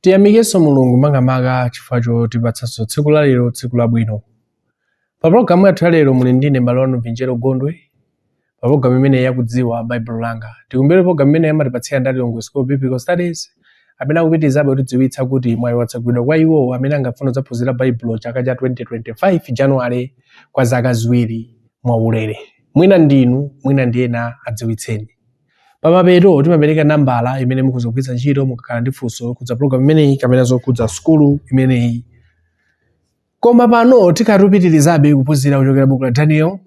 tiyamikenso mulungu makamaka chifukwa chotipatsanso tsiku la lero tsiku labwino pa pologalamu yathu ya lero muli ndine mbale wanu vinjero gondwe pa pologalamu imene yakudziwa baibulo langa tikumbukire pologalamu imeneyi amatipatsira ndi a Tilongo school biblical studies amene akupitirizabe kutidziwitsa kuti mwayi watsegulidwa kwa iwo amene angafuna kudzaphunzira baibulo chaka cha 2025 januwale kwa zaka ziwiri mwaulere mwina ndinu mwina ndi ena adziwitseni Pamapeto timapereka nambala imene mukhoza kugwiritsa ntchito mukakhala ndi funso lokhudza pulogalamu imeneyi kapena zokhudza sukulu imeneyi. Koma pano tikhala tikupitirizabe kuphunzira kuchokera buku la Daniel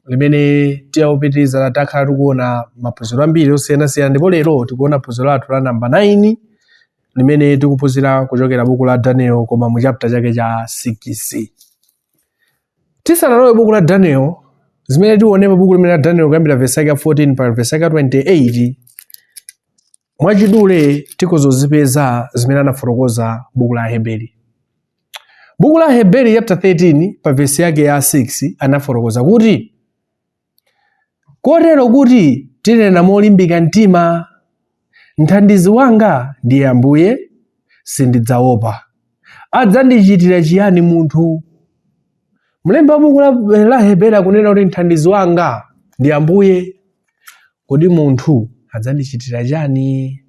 limene tikupitiriza takhala tikuona maphunziro ambiri osiyanasiyana ndipo lero tikuona phunziro lathu la namba 9 limene tikuphunzira kuchokera buku la Daniel koma mu chapter chake cha 6. tisanalowe buku la daniel zimene tione pa buku limene la daniel kuyambira vesi yake ya 14 mpaka vesi yake ya 28 mwachidule tikhoza kuzipeza zimene anafotokoza buku la aheberi buku la aheberi chapter 13 pa vesi yake ya 6 anafotokoza kuti kotero kuti tinena molimbika mtima, Mthandizi wanga ndiye Ambuye, sindidzaopa. Adzandichitira chiyani munthu? Mlembi wa buku la, la Heberi akunena kuti mthandizi wanga ndi Ambuye. Kodi munthu adzandichitira chani?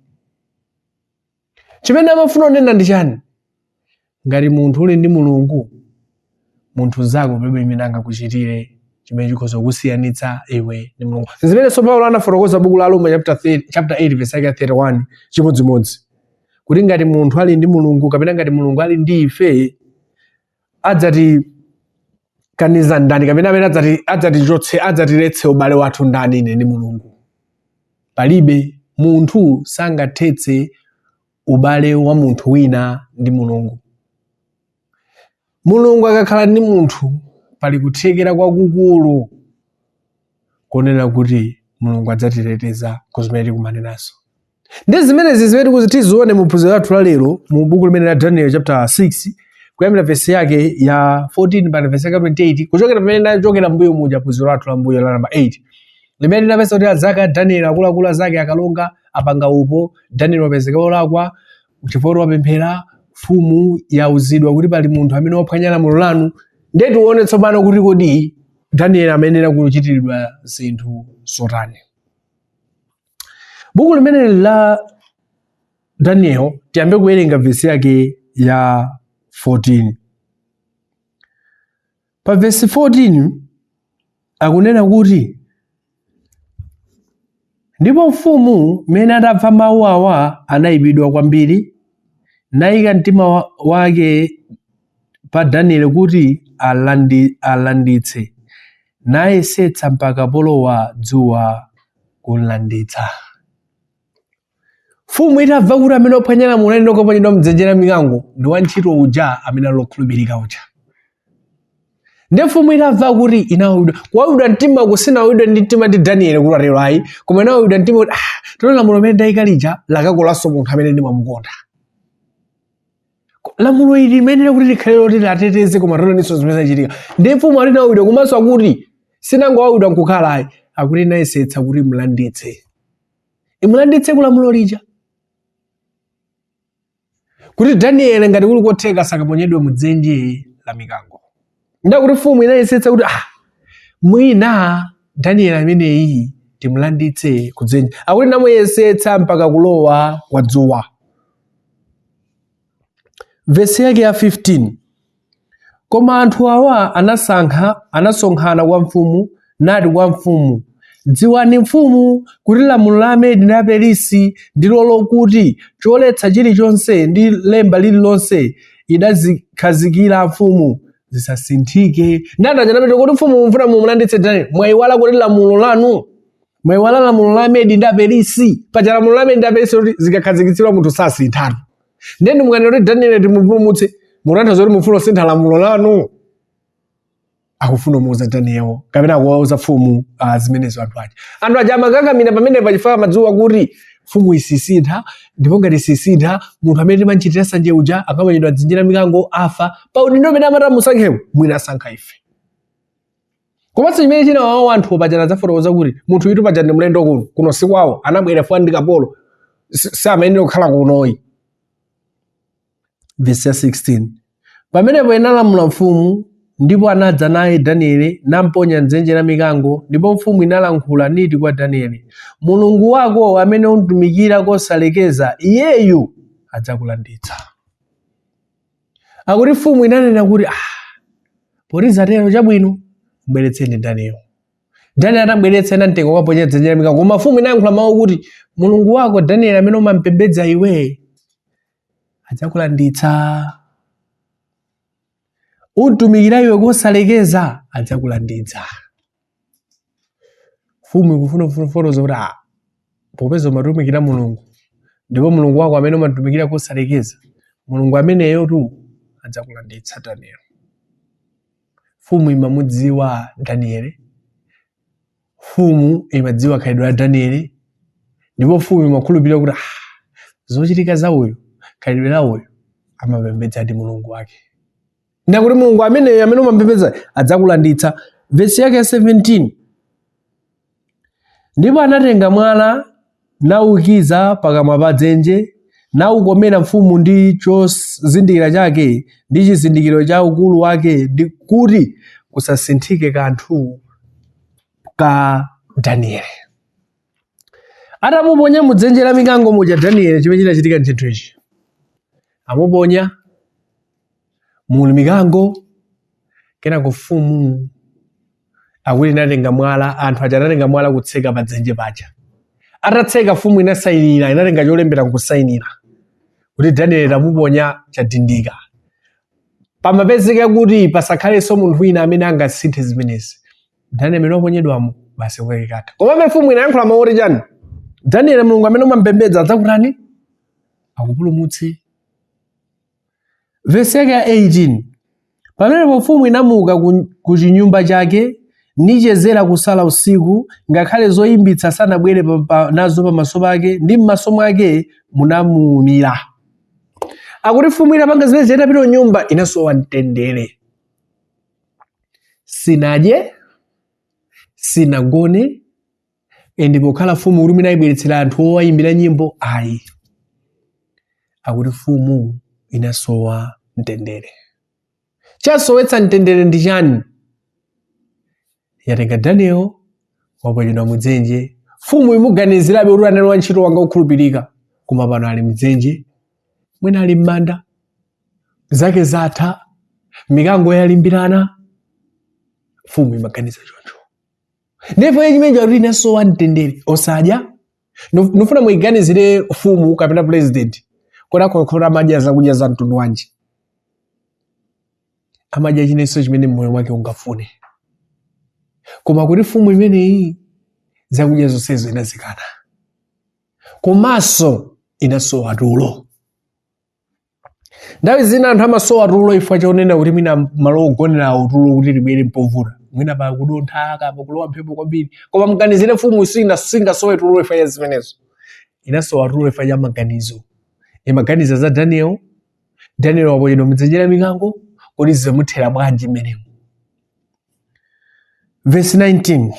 chimene amafuna kunena ndi chani ngati munthu uli ndi mulungu munthu mzako palibe chimene angakuchitire chimene chikhoza kukusiyanitsa iwe ndi mulungu zimenenso paulo anafotokoza buku la aroma chapter 8 verse yake ya 31 chimodzimodzi kuti ngati munthu ali ndi mulungu kapena ngati mulungu ali ndi ife adzatikaniza ndani kapena amene adzatichotse adzatiletse ubale wathu ndani ine ndi mulungu palibe munthu sangathetse ubale wa munthu wina ndi mulungu mulungu akakhala ndi munthu pali kuthekera kwakukulu konena kuti mulungu adzatiteteza ku zimene tikumana nazo ndi zimenezi zimene tikuzi tizione mu phunziro lathu la lero mu buku limene la daniel chapter 6 kuyambira vesi yake ya 14 mpaka vesi yake 28 kuchokera pamene tachokera mbuyo muja phunziro lathu la mbuyo la namba 8 limene tinapeza kuti anzake a daniel akuluakulu azake akalonga apanga upo daniel wapezeka wolakwa chifukwa wapemphera mfumu yauzidwa kuti pali munthu amene waphwanya lamulo lanu ndiye tione tsopano kuti kodi daniel amayenera kuchitiridwa zinthu zotani Buku limeneli la Daniel tiyambe kuwerenga vesi yake ya 14. Pa vesi 14 akunena kuti ndipo mfumu mmene adamva mawu awa anayipidwa kwambiri nayika mtima wake pa Daniele kuti alanditse, nayesetsa mpaka polowa dzuwa kumlanditsa. Mfumu itamva kuti amene waphwanya lamulo ayenera kukaponyedwa m'dzenje la mikango ndi wantchito uja amene ali okhulupirika uja. Ndi mfumu itamva akuti inawawidwa, kuwawidwa mtima uku sinawawidwe ndi mtima ndi Daniele kuti atero ayi, koma inawawidwa mtima kuti ah, tero lamulo limene ndayika lija lakakolanso munthu amene ndimamukonda. lamulo lija limayenera kuti likhale loti liwateteze koma taonaninso zimene zachitika ndi mfumu akuti inawawidwa komanso akuti sinangowawidwa nkukhala ayi akuti inayesetsa kuti imulanditse imulanditse ku lamulo lija kuti danieli ngati kuli kotheka sakaponyedwe mu dzenje la mikango nde akuti mfumu inayesetsa kuti ah, mwina danieli ameneyi timulanditse kudzenje akuti inamuyesetsa mpaka kulowa kwa dzuwa vesi yake ya 15 koma anthu awa anasankha anasonkhana kwa mfumu nati kwa mfumu dziwani mfumu kuti lamulo la amedi ndi aperisi ndilo lokuti choletsa chilichonse ndi lemba lililonse idazikhazikira mfumu zisasinthike nde anthu aja anapita kuti mfumu mufuna mumulanditse daniel mwayiwala kuti lamulo lanu mwayiwala lamulo la amedi ndi aperisi paja lamulo la amedi ndi aperisi kuti zikakhazikitsidwa munthu sasinthatu ndiye ndi mukati kuti daniel timupulumutse mutanthauza kuti mufuna kusintha lamulo lanu akufuna kumuuza Daniel kapena akuwauza mfumu uh, zimenezo anthu aja anthu aja amakakamira pamene pachifukwa amadziwa kuti mfumu isisintha ndipo ngati isisintha munthu amene timachitira sanje uja akaponyedwa m'dzenje la mikango afa pa udindo amene amati amusankhewo mwina asankha ife komanso chimene chinawawa anthu paja ndinafotokoza kuti munthuyutu paja ndi mlendo kuno kuno si kwawo anabwera chifukwa ndi kapolo samayenera kukhala kuno ayi Vesi ya 16. Pamenepo inalamula mfumu, ndipo anadza naye Daniele, namponya m'dzenje la mikango, ndipo mfumu inalankhula niti kwa Daniele, Mulungu wako amene umtumikira kosalekeza, iyeyu adzakulanditsa. Akuti mfumu inanena kuti, ah, poti zatero chabwino, mbweretseni Daniele. Daniele atambweretsa anamtenga kukaponya m'dzenje la mikango, koma mfumu inayankhula mawu kuti, Mulungu wako Daniele amene umampembedza iwe, adzakulanditsa utumikira iwe kosalekeza adzakulanditsa mfumu ikufuna kufotokoza kuti "Ah, popeza umatumikira mulungu ndipo mulungu wako amene umatumikira kosalekeza mulungu ameneyotu adzakulanditsa danieli mfumu imamudziwa danieli mfumu imadziwa khalidwe la Danieli ndipo mfumu imakhulupirira kuti ah, zochitika za uyu khalidwe la uyu amapembedzadi mulungu wake ndi kuti mulungu ameneyo amene umampembedza adzakulanditsa vesi yake ya 17 ndipo anatenga mwala nauikiza pakamwa pa dzenje, naukomera mfumu ndi chozindikira chake ndi chizindikiro cha akulu ake, ndi kuti kusasinthike kanthu ka Danieli. Atamuponya mu dzenje la mikango muja Danieli, chimene chinachitika ndi chinthu ichi, amuponya muli mikango, kenako mfumu akuti inatenga mwala anthu aja anatenga mwala kutseka pa dzenje paja atatseka mfumu inasayinira inatenga cholembera nkusayinira kuti daniel tamuponya chidindo kumapezeka kuti pasakhalenso munthu wina amene angasinthe zimenezi daniel amene waponyedwamo basi kwake katha komabe mfumu inayankhula mawu oti chani daniel mulungu amene umampembedza adzakutani adzakupulumutsa Vesi yake ya 18 pamenepo mfumu inamuka ku, ku chinyumba chake nichezera kusala usiku ngakhale zoyimbitsa sanabwere pa, pa, nazo pamaso pake ndi m'maso mwake munamuumira akuti mfumu itapanga zimenezi itapita kunyumba inasowa mtendere sinadye sinagone ende pokhala mfumu kuti mwina ayibweretsere anthu owayimbira nyimbo ayi akuti mfumu inasowa mtendere chasowetsa mtendere ndi chani yatenga daniel waponyedwa mudzenje mfumu imuganizirabe kuti anali wantchito wanga okhulupirika koma pano ali mdzenje mwina ali m'manda zake zatha mikango yalimbirana mfumu imaganiza choncho ndipo iye chimenecho akuti inasowa mtendere osadya Ndif- ndifuna muiganizire mfumu kapena purezidenti kodi akhakhala amadya zakudya za mtundu wanji amadya chilichonse chimene moyo wake ungafune koma akuti mfumu imeneyi zakudya zonsezo inazikana komanso inasowa tulo nthawi zina anthu amasowa tulo chifukwa chonena kuti mwina malo ogonerawo tulo kuti libwere mpovuta mwina pakudontha kapena kulowa mphepo kwambiri koma mganizire mfumu isi- singasowe tulo chifukwa cha zimenezo inasowa tulo chifukwa cha maganizo imaganiza za daniel daniel waponyedwa mdzenje la mikango kodi zimuthera bwanji mmenemo verse 19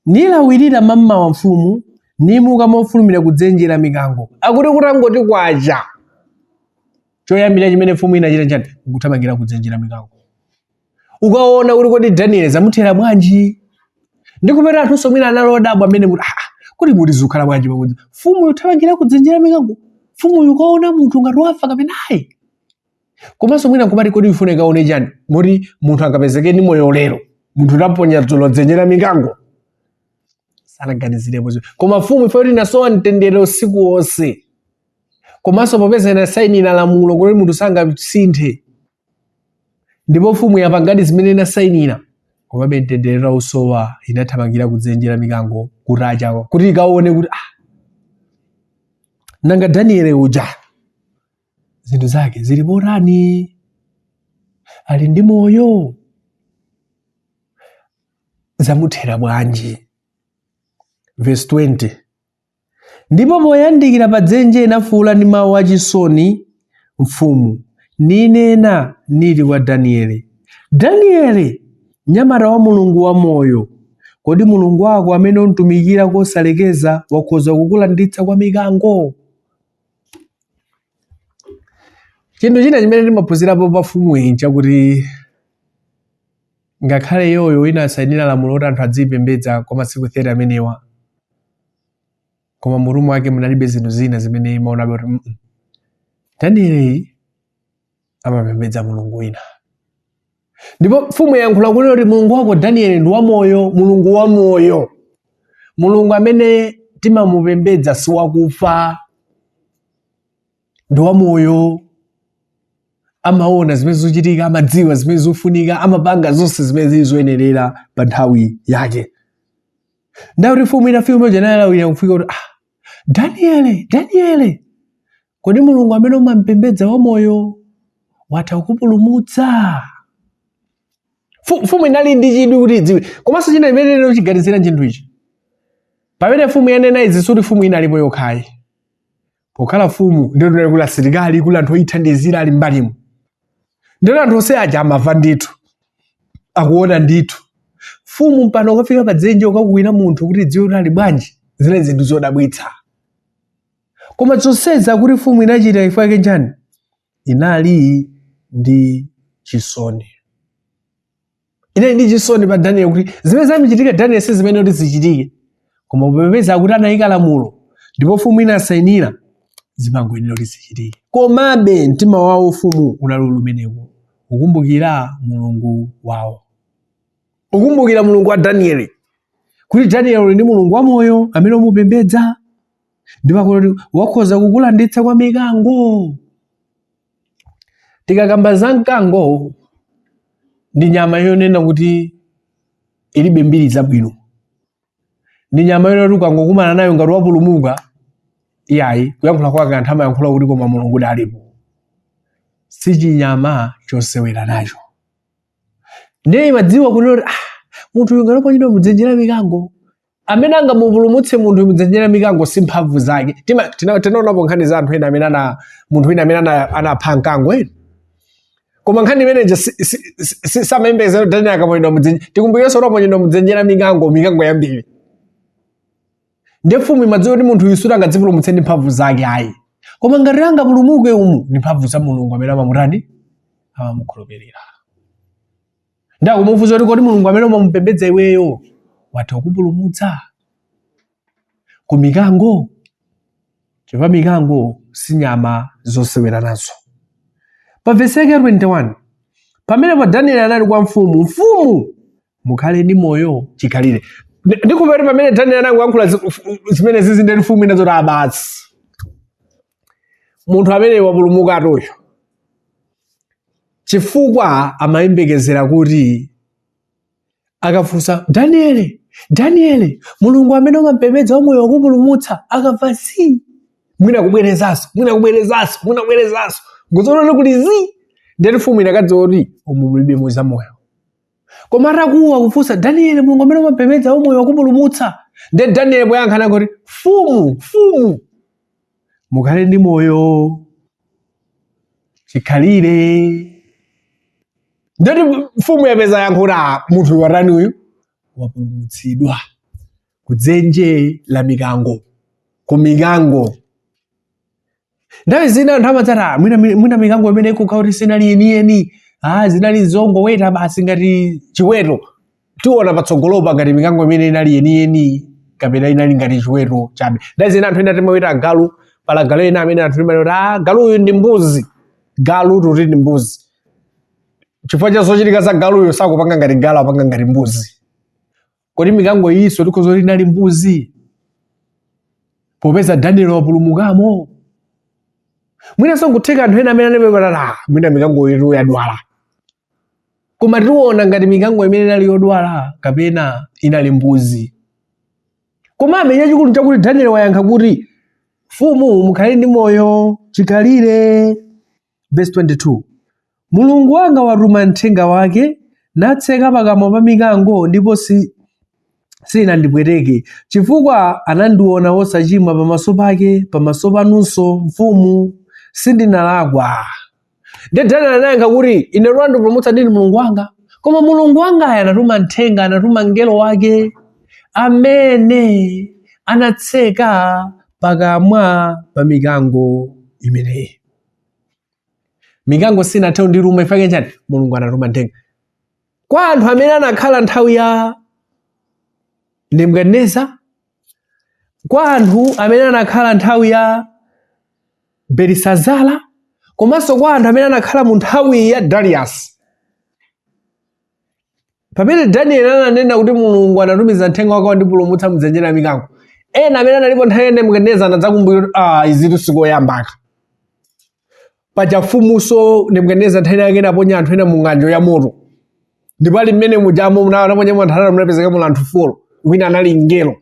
Nilawira mamawa mfumu, nimuka mofulumira ku dzenje la mikango. Akuti kutangoti kwacha, choyambirira chimene mfumu inachita nchani? Nkuthamangira ku dzenje la mikango. Kukaona kuti kodi Daniel zamuthera bwanji? Ndikupeza anthunso mwina anali odabwa mmene kuti ah, kodi muti zikukhala bwanji pakuti mfumu ikuthamangira ku dzenje la mikango? Mfumu ikukaona munthu ngati wafa kapena ayi? komanso mwina nkumati kodi ikufuna ikaone chani moti munthu angapezeke ndi moyo lero munthu tidaponya dzulo mdzenje la mikango sanaganizirepo zinthu. koma mfumu ife kuti inasowa mtendere usiku wonse komanso popeza inasainira lamulo kuti munthu sangasinthe ndipo mfumu yapangadi zimene inasainira komabe mtendere itausowa inathamangira ku dzenje la mikango kutacha kuti ikaone kuti ah, nanga daniele uja zinthu zake zili motani ali ndi moyo zamuthera bwanji verse 20 ndipo poyandikira pa dzenje inafuula ndi mawu achisoni mfumu ninena niti kwa danieli danieli mnyamata wa mulungu wa moyo kodi mulungu wako amene umtumikira kosalekeza wakhoza kukulanditsa kwa mikango Chinthu china chimene timaphunzirapo pa mfumuyi nchakuti ngakhale iyoyo inasainira lamulo kuti anthu adziyipembedza kwa masiku 30 amenewa koma mmutu mwake munalibe zinthu zina zimene imaonabe kuti "Mm-mm, danieleyu amapembedza mulungu wina ndipo mfumu yayankhula kunena kuti mulungu wako danieli ndi wamoyo mulungu wamoyo mulungu amene timamupembedza si wakufa ndi wamoyo amaona zimene zochitika amadziwa zimene zofunika amapanga zonse zimene zili zoyenerera pa nthawi yake nde akuti mfumu inafika mmene muja inalawira kufika kuti ah daniele daniele Kodi Mulungu amene umampembedza wamoyo watha kukupulumutsa? Mfu- Mfumu inali ndi chidwi kuti idziwe, komanso china chimene tingachiganizire chinthu ichi. Pamene mfumu yanena izi sikuti mfumu inalipo yokha ayi. Pokhala mfumu ndiye kuti kunali asilikali kunali anthu oyithandizira ali mmbalimo. Ndiye anthu onse aja amava ndithu akuona ndithu. Mfumu mpaka kukafika pa dzenje kukakuwira munthu kuti idziwe kuti ali bwanji zinali zinthu zodabwitsa. koma zonsezi kuti mfumu inachita chifukwa chake nchiyani inali ndi chisoni inali ndi chisoni pa daniel kuti zimene zamuchitikira daniel si zimene kuti zichitike koma popeza kuti anayika lamulo ndipo mfumu inasainira zimangoyenera kuti zichitike komabe mtima wa mfumu unali kumeneko ukumbukira mulungu wawo ukumbukira mulungu wa danieli kuti danieli uli ndi mulungu wamoyo amene umupembedza ndipo kuti wakhoza kukulanditsa kwa mikango tikakamba za mkango ndi nyama yonena kuti ilibe mbiri zabwino ndi nyama yonena kuti ukangokumana nayo ngati wapulumuka iyayi kuyankhula kwake anthu amayankhula kuti koma mulungudi alipo si chinyama chosewera nacho ndiye imadziwa kunena kuti ah, munthu uyu ngati waponyedwa mudzenje la mikango amene angamupulumutse munthu mudzenje la mikango si mphamvu zake Tima- tina- tinaonapo nkhani za anthu ena amene ana munthu wina amene ana- anapha mkango eya koma nkhani imeneja samayembekezera kuti daniel akaponyedwa mudzenje tikumbukirenso kuti aponyedwa mudzenje la mikango mikango yambiri nde mfumu imadziwa kuti munthu uyu sikuti angadzipulumutse ndi mphamvu zake ayi koma ngati angapulumuke umu ndi mphamvu za mulungu amene amamutani amamukhulupirira nde akumufunsa kuti kodi mulungu amene umamupembedza iweyo watha kukupulumutsa ku mikango chifukwa mikango si nyama zosewera nazo pa vesi yake ya 21 pamenepo danieli anati kwa mfumu mfumu mukhale ndi moyo chikhalire Ndi- ndikukhulupirira kuti pamene danieli anangoyankhula zi- f- zimenezi nde kuti mfumu inadzati ah, basi munthu ameneyu wapulumuka chifukwa amayembekezera kuti akafunsa daniele daniele mulungu amene umampembedza wamoyo wakupulumutsa akamva zi mwina kubwerezanso mwina kubwerezanso mwina kubwerezanso nkudzaona kuti zi nde kuti mfumu inakadziwa kuti umu mulibemo za moyo koma atakuwa kufunsa daniele mulungu amene umapembedza wamoyo wakupulumutsa nde daniele poyankha anangoti mfumu mfumu mukhale ndi moyo chikhalire nde kuti mfumu yapeza yankho kuti "Ah, munthu watani uyu wapulumutsidwa kudzenje la mikango ku mikango nthawi zina anthu amadzati "Ah, mwina mi- mwina mikango imeneyi kukhala kuti sinali yeniyeni ah, zinali zongoweta basi ngati chiweto tiona patsogolopa ngati mikango imeneyi inali yeniyeni kapena inali ngati chiweto chabe nthawi zina anthu ena timaweta agalu pali agalu ena amene anthu timanena kuti ah, galu uyu ndi mbuzi galu timati ndi mbuzi chifukwa cha zochitika za galuyo sakupanga ngati galu apanga ngati mbuzi kodi mikango iyinso tikhoza kuti inali mbuzi popeza daniel wapulumukamo mwinanso nkutheka anthu ena amene anapepatala mwina mikango iyo yadwala koma tiona ngati mikango imene inali yodwala kapena inali mbuzi komabe chachikulu nchakuti daniel wayankha kuti mfumu mukhale ndi moyo chikhalire Verse 22. Mulungu wanga watuma mthenga wake natseka pakamwa pa mikango ndipo si sinandipweteke chifukwa anandiona wosachimwa pamaso pake pamaso panunso mfumu sindinalakwa ndiye daniel anayankha kuti ine wandipulumutsa ndi mulungu wanga koma mulungu wangayo anatuma mthenga anatuma mngelo wake amene anatseka pakamwa pa mikango imeneyi mikango sinathe kundiruma chifukwa chani mulungu anatuma mthenga kwa anthu amene anakhala nthawi ya nebukadineza kwa anthu amene anakhala nthawi ya belisazara komanso kwa anthu amene anakhala mu nthawi ya darius pamene danieli ananena kuti mulungu anatumiza mthenga wake wandipulumutsa mdzenje la mikango ena amene analipo nthawi ya nebukadineza anadzakumbukira kuti ah, izitu sikoyambaka paja mfumuso nebukadineza nthawi yake inaponya anthu ena mu ng'anjo ya moto ndipo ali mmene mujamo munaponyedwa anthu atatu munapezeka muli anthu folo wina anali mngelo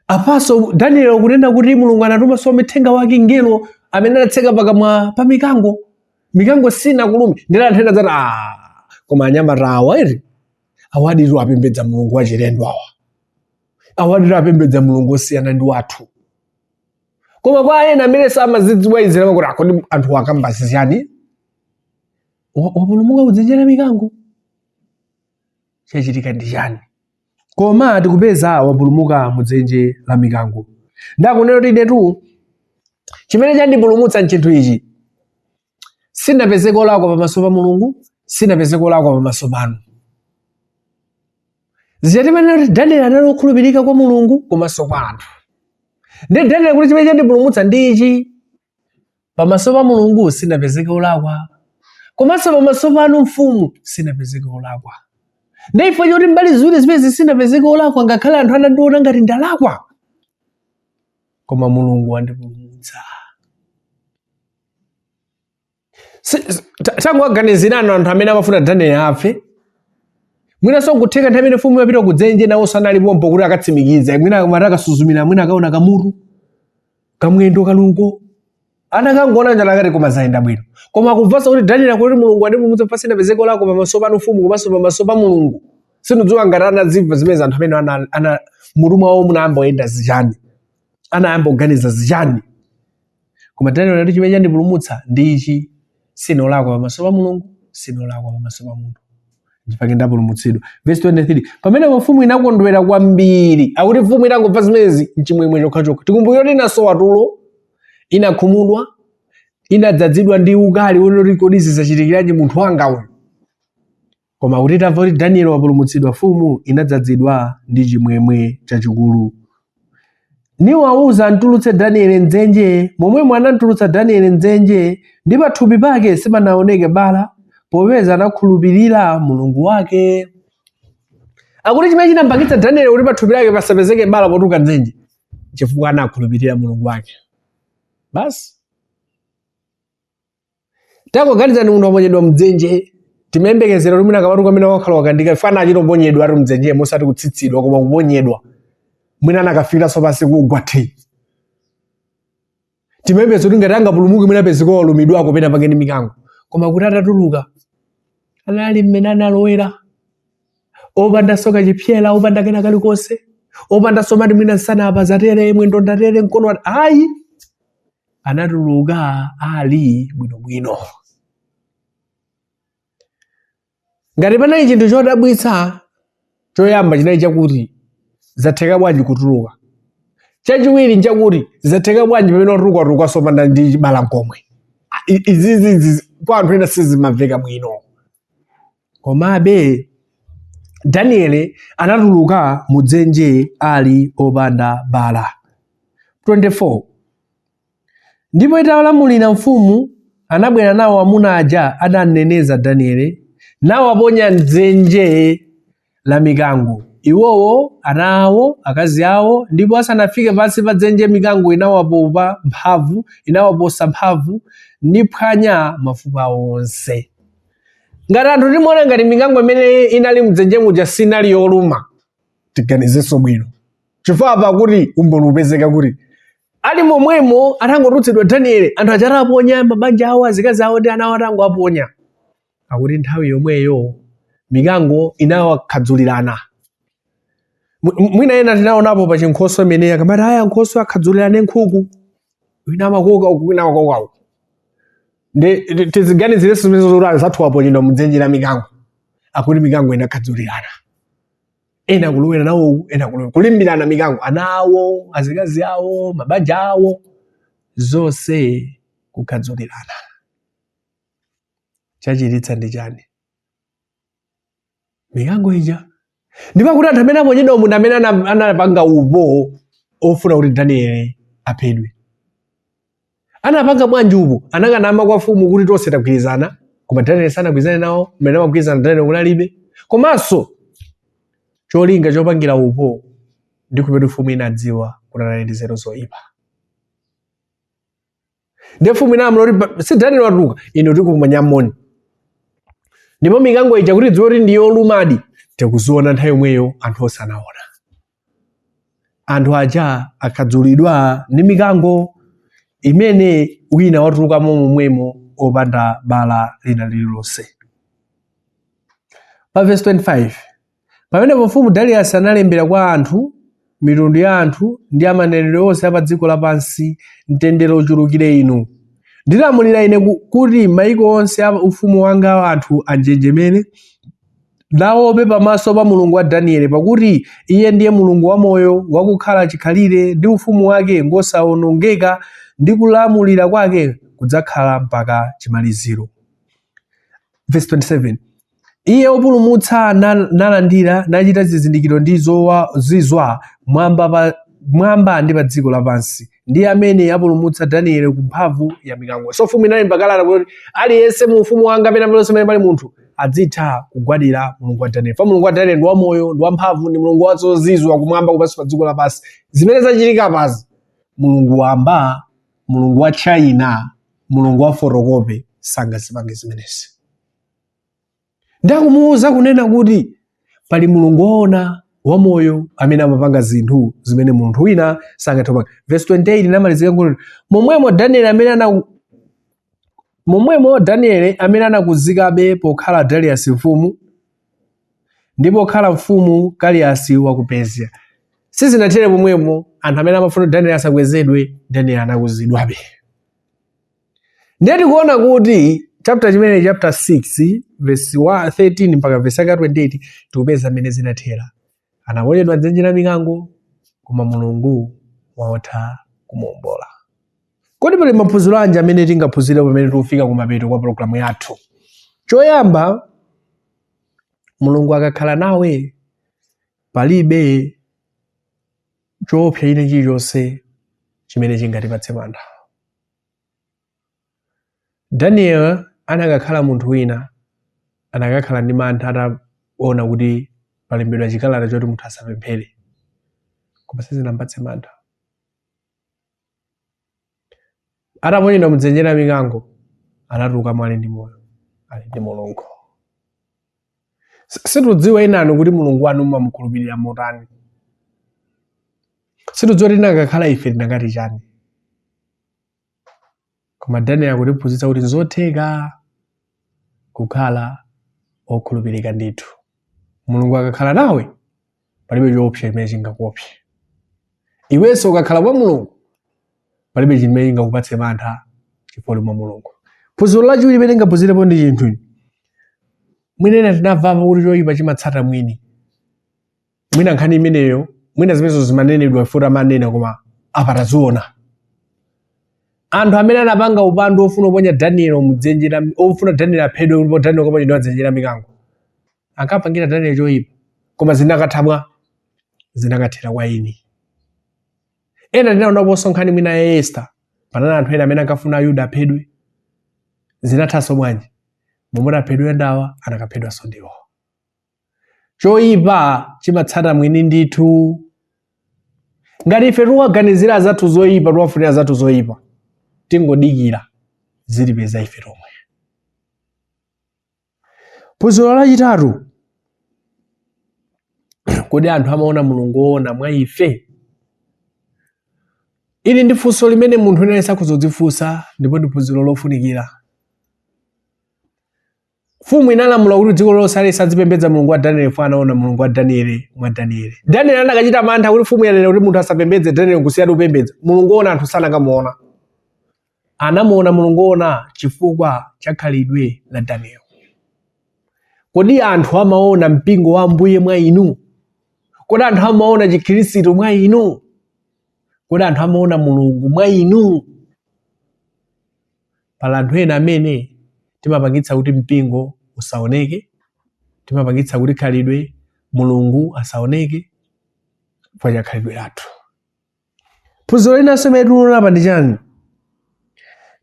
apanso daniel akunena kuti mulungu anatumanso mthenga wake mngelo amene anatseka pakamwa pa mikango mikango sinamulume ndiye anthu ena zati "Ah, koma anyamata awa eti awaditu apembedza mulungu wachilendo awa awaditu apembedza mulungu osiyana ndi wathu koma kwa ena amene samazidziwa izi amakuti kodi anthuwa akamba zichiyani wapulumuka mudzenje la mikango chachitika ndi chani koma tikupeza wapulumuka mu dzenje la mikango ndiye akunena kuti inetu chimene chandipulumutsa nchinthu ichi sinapezeke olakwa pamaso pa mulungu sinapezeke olakwa pamaso panu zichatimanena kuti daniel anali wokhulupirika kwa mulungu komanso kwa anthu ndiye daniel akuti chimene chandipulumutsa ndi ichi Pamaso pa Mulungu sinapezeke olakwa, komanso pamaso panu mfumu sinapezeke olakwa. Ndi chifukwa choti mbali ziwiri zimezi sinapezeke olakwa ngakhale anthu anandiona ngati ndalakwa, koma Mulungu wandipulumutsa. Si- si- ta- tangowaganizirani anthu amene amafuna danieli afe mwinanso nkutheka nthawi imene mfumu imapita kudzenje nawo analinso pompo kuti akatsimikiza mwina akamati akasuzumira mwina akaona kamutu kamwendo kaluko anakangoona njala akati koma zayenda bwino koma akumvanso kuti danieli akuti mulungu wandipulumutsa sinapezeke olakwa pamaso panu mfumu komanso pamaso pa mulungu sindidziwa ngati anazimva zimene anthu amene ana, ana mutu mwawo munayamba kuyenda zichani anayamba kuganiza zichani koma Daniel anati chimene chandipulumutsa ndi ichi sinolakwa pamaso pa mulungu sinolakwa pamaso pa munthu nchake ndapulumutsidwa vesi 23 pamenepo mfumu inakondwera kwambiri akuti mfumu itangomva zimenezi mchimwemwe chokhachokha tikumbukire kuti inasowa tulo inakhumudwa inadzadzidwa ndi ukali wonena kuti kodi zizachitikiranje munthu wanga uyu Koma kuti tamva kuti Daniel wapulumutsidwa mfumu inadzadzidwa ndi chimwemwe chachikulu. Niwawuza amtulutse Daniel mdzenje, momwemo anamtulutsa Daniel mdzenje, ndi pathupi pake sipanawoneke bala, popeza anakhulupirira Mulungu wake. Akuti chimene chinampangitsa Daniel kuti pathupi lake pasapezeke bala potuluka mdzenje, chifukwa anakhulupirira Mulungu wake. Basi. tangoganizani munthu waponyedwa mdzenje timayembekezera kuti mwina akamatuluka amene wakhala wakandika paja anachita kuponyedwa eti mdzenjemo osati kutsitsidwa koma kuponyedwa mwina anakafikiranso pansi kugwa thi timayembeza kuti ngati angapulumuke mwina apezeka walumidwako pena pake ndi mikango koma akuti atatuluka anali mmene analowera opanda so kachipsera opanda kena kalikonse opanda somati mwina nsana apa zatere mwendo ndatere mkono ayi anatuluka ali bwinobwino ngati panali chinthu chodabwitsa choyamba chinali chakuti zatheka bwanji kutuluka chachiwiri nchakuti zatheka bwanji pamene watuluka sopanda ndi chibala nkomwe izizi kwa anthu ena sizimamveka bwino Komabe, Daniele anatuluka mu dzenje ali opanda bala. 24 ndipo italamulira mfumu anabwera nawo amuna aja adamneneza Daniele nawaponya m'dzenje la mikango. Iwowo, ana awo, akazi awo, ndipo asanafike pansi pa dzenje mikango inawapopa mphamvu, inawaposa mphamvu, niphwanya mafupa onse. Ngati anthu timawona ngati mikango imene inali mdzenje muja sinali yoluma, tiganizenso bwino. Chifukwa pakuti umboni upezeka kuti ali momwemo atangotulutsidwa Danieli, anthu aja ataponya mabanja awo, azikazi awo ndi ana awo atangowaponya. akuti nthawi yomweyo mikango inawakhadzulirana Mwi- mwi- mwina ena tinaonapo pa chinkhoswe imeneyi akamati eya ankhoswe akhadzulirane nkhuku wina amakoka uku wina amakoka uku ndi ti- tiziganizirenso zimene zoti anzathu aponyedwa mdzenje la mikango akuti mikango inakhadzulirana ena kulowera nawo uku, ena kulowera kulimbirana mikango ana awo azikazi awo mabanja awo zonse kukhadzulirana chachitika ndi chani mikango ija ndipo kuti anthu amene aponyedwa umu ndi amene ana- anapanga upo ofuna kuti danieli aphedwe anapanga bwanji upo anakanama kwa mfumu kuti tonse tagwirizana koma danieli sanagwirizane nawo mmene amagwirizana danieli kunalibe komanso cholinga chopangira upo ndi kupeta mfumu inadziwa kuti anali ndi nzeru zoyipa ndi mfumu inalamula kuti pa- si danieli watuluka inu tikumanya moni ndipo mikango ija kuti idziwe kuti ndi yolumadi tikuziona nthawi yomweyo anthu onse anaona anthu aja akhadzulidwa ndi mikango imene wina watulukamo momwemo opanda bala lina lililonse pa verse 25 Pamenepo mfumu Darius analembera kwa anthu, mitundu ya anthu, ndi a manenedwe onse a pa dziko lapansi, Mtendere uchulukire inu. Ndilamulira ine ku- kuti maiko onse a ufumu wanga anthu anjenjemere, naope pamaso pa Mulungu wa Danieli, pakuti iye ndiye Mulungu wamoyo, wakukhala chikhalire, ndi ufumu wake ngosawonongeka, ndi kulamulira kwake kudzakhala mpaka chimaliziro. Verse 27. Iye opulumutsa na- nalandira nachita zizindikiro ndi zowa- zizwa mwamba pa mwamba ndi pa dziko lapansi ndiye amene apulumutsa danieli ku mphamvu ya mikango so mfumu inalemba kalata kuti aliyense mu ufumu wanga pena ponse pamene pali munthu adzitha kugwadira mulungu wa danieli fa mulungu wa danieli ndi wamoyo ndi wamphamvu ndi mulungu wazozizwa kumwamba kupansi pa dziko lapansi zimene zachitika apazi mulungu wamba mulungu wa china mulungu wa fotokope sangazipange zimenezi ndakumuwuza kunena kuti pali mulungu woona wamoyo amene amapanga zinthu zimene munthu wina sangathe kupanga verse 28 inamalizika kuti momwemo danieli amene ana momwemo danieli amene anakuzikabe pokhala darius mfumu ndi pokhala mfumu Kaliyasi wa ku Persia. Sizinathere pomwepo, anthu amene amafuna Danieli asakwezedwe, Danieli anakuzidwabe. Ndiye tikuona kuti chapter chimenechi chapter 6 verse wa- 13 mpaka verse yaka 28 tikupeza mmene zinathera. Anaponyedwa m'dzenje la mikango, koma Mulungu watha kumuombola. Kodi pali maphunziro anji amene tingaphunzire pamene tikufika kumapeto kwa pologalamu yathu? Choyamba, Mulungu akakhala nawe palibe choopsa china chilichonse chimene chingatipatse mantha. Daniel anakakhala munthu wina, anakakhala ndi mantha ataona kuti palembedwa chikalata choti munthu asapemphere, koma sizinampatse mantha. Ataponyedwa mudzenje la mikango, anatulukamo ali ndi moyo, ali ndi Mulungu. Situdziwa inanu kuti Mulungu wanu mumamukhulupirira motani. Situdziwa tinakakhala ife tinakati chani. Koma Danieli akutiphunzitsa kuti nzotheka kukhala okhulupirika ndithu. Mulungu akakhala nawe palibe choopsa chimene chingakuopse. Iwenso ukakhala mwa Mulungu palibe chimene chingakupatse mantha chifukwa uli mwa Mulungu. Phunziro lachiwiri limene tingaphunzirepo ndi chinthu mwina ena tinamvapo kuti choyipa chimatsata mwini. mwina nkhani imeneyo mwina zimenezo zimanenedwa futi amanena koma apa taziona anthu amene anapanga upandu ofuna kuponya daniel mudzenje la ofuna daniel aphedwe ndipo daniel akaponyedwe mdzenje la mikango ankapangira daniel choyipa koma zinakatha bwa zinakathera kwa eni ena tinaonaponso nkhani mwina ya esta panali anthu ena amene ankafuna ayuda aphedwe zinathanso bwanji omwe amati aphedwe ndawa anakaphedwanso ndiwo choyipa chimatsata mwini ndithu ngati ife tiwaganizira azathu zoyipa tiwafunira azathu zoyipa tingodikira zitipeza ife tomwe phunziro lachitatu kodi anthu amaona mulungu woona mwa ife ili ndi funso limene munthu unayenera kuzidzifunsa ndipo ndi phunziro lofunikira Mfumu inalamula kuti dziko lonse aliyense azipembedza Mulungu wa Danieli chifukwa anaona Mulungu wa Danieli mwa Danieli. Danieli anakachita mantha kuti mfumu yanena kuti munthu asapembedze Danieli kusiya kupembedza. Mulungu woona anthu sanakamuona. Anamuona Mulungu woona chifukwa cha khalidwe la Danieli. Kodi anthu amaona mpingo wa Ambuye mwa inu? Kodi anthu amaona chikhristu mwa inu? Kodi anthu amaona Mulungu mwa inu? Pali anthu ena amene timapangitsa kuti mpingo usaoneke, timapangitsa kuti khalidwe Mulungu asaoneke chifukwa cha khalidwe lathu. Phunziro linanso limene tikuliona apa ndi chani?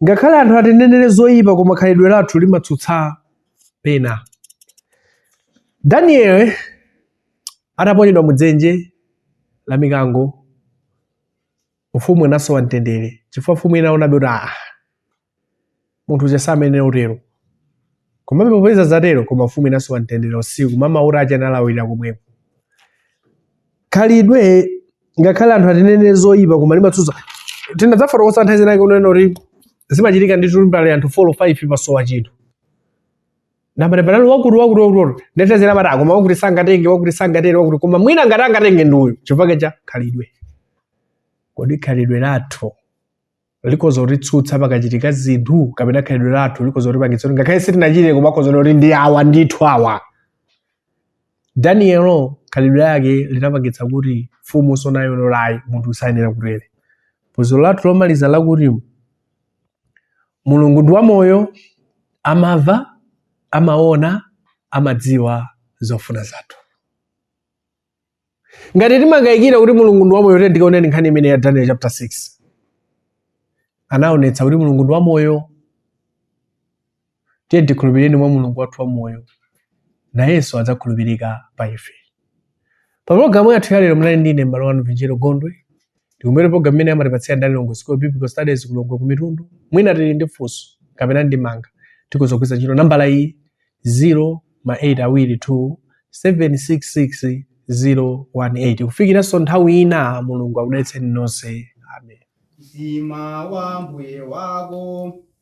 Ngakhale anthu atinenere zoyipa koma khalidwe lathu limatsutsa pena. Danieli ataponyedwa mudzenje la mikango mfumu inasowa mtendere chifukwa mfumu inaonabe kuti ah munthu uja samayenera utero komabe popeza zatero koma mfumu inasowa mtendere usiku mmawa kutacha analawirira komweko khalidwe ngakhale anthu atinenere zoyipa koma limatsutsa tinadzafotokoza nthawi zinake kunena kuti zimachitika kuti tilipo anthu 4 5 pasowa chinthu nabale panali wakuti wakuti wakuti ndetezera amati akoma wakuti sangatenge wakuti sangatenge wakuti koma mwina ngati angatenge ndi uyu chifukwa cha khalidwe kodi khalidwe lathu likhoza kutitsutsa pakachitika zinthu kapena khalidwe lathu likhoza kutipangitsa kuti ngakhale sitinachite koma akhoza kuti ndi awa ndithu awa danieli khalidwe lake linapangitsa kuti mfumu ione kuti ayi munthu uyu sayenera kutere phunziro lathu lomaliza lakuti mulungu ndi wamoyo amamva amaona amadziwa zofuna zathu ngati timakayikira kuti mulungu ndi wamoyo tiyeni tikaonenso nkhani imeneyi ya daniel chapter 6 anaonetsa kuti mulungu ndi wamoyo Tiyeni tikhulupirire mwa Mulungu wathu wamoyo, nayenso adzakhulupirika pa ife. Pa pulogalamu yathu yalero munali ndi ine m'bale wanu Vinjero Gondwe. Tikumbukire pulogalamu imeneyi amatipatsira ndi a Lilongwe School of Biblical Studies ku Lilongwe ku Mitundu. Mwina tili ndi funso kapena ndemanga tikhoza kugwiritsa ntchito nambala iyi 0 ma 8 awiri 2 766 018 kufikiranso nthawi ina mulungu akudalitseni nonse amen Zima wa mbuye wako